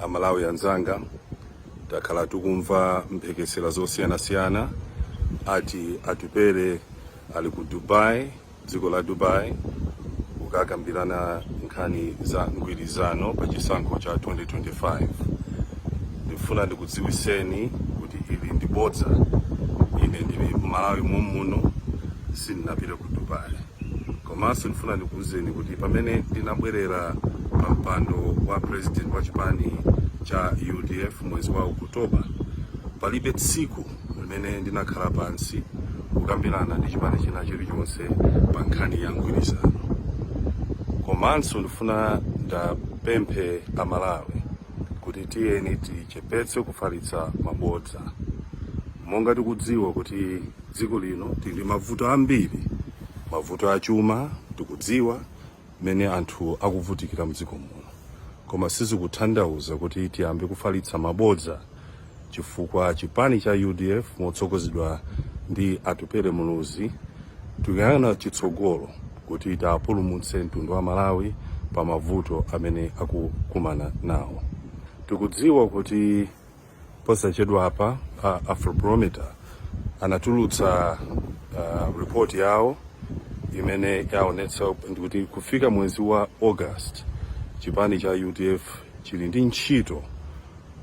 amalawi anzanga takhala tikumva mphekesera zosiyanasiyana ati atupele ali ku dubai dziko la dubai kukakambirana nkhani za mgwirizano pa chisankho cha 2025 ndifuna ndikudziwiseni kuti ili ndi bodza ine ndili mmalawi momuno sindinapite ku dubai komanso ndifuna ndikuwuzeni kuti pamene ndinabwerera pa mpando wa president wa chipani cha udf mwezi wa okutoba palibe tsiku limene ndinakhala pansi kukambirana ndi chipani china chilichonse pa nkhani ya mgwirizano komanso ndifuna ndapemphe amalawi kuti tiyeni tichepetse kufalitsa mabodza monga tikudziwa kuti dziko lino tili mavuto ambiri mavuto achuma tikudziwa mmene anthu akuvutikira mdziko muno koma sizikuthandauza kuti tiyambe kufalitsa mabodza chifukwa chipani cha udf motsogozedwa ndi atupele muluzi tikuyang'ana chitsogolo kuti tapulumutse mtundu wa malawi pa mavuto amene akukumana nawo tikudziwa kuti Posachedwa apa Afrobarometer anatulutsa uh, report yawo imene yaonetsa kuti kufika mwezi wa August chipani cha UDF chili ndi ntchito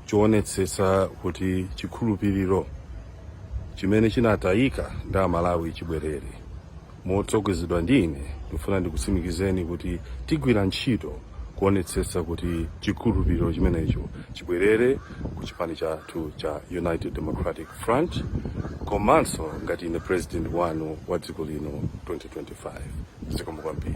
choonetsetsa kuti chikhulupiriro chimene chinatayika ndi amalawi chibwerere. Motsogozedwa ndi ine, ndikufuna ndikutsimikizeni kuti tigwira ntchito kuonetsetsa kuti chikhulupiriro chimenecho chibwerere ku chipani chathu cha United Democratic Front komanso ngati ine President wanu wa dziko lino 2025. Zikomo kwambiri.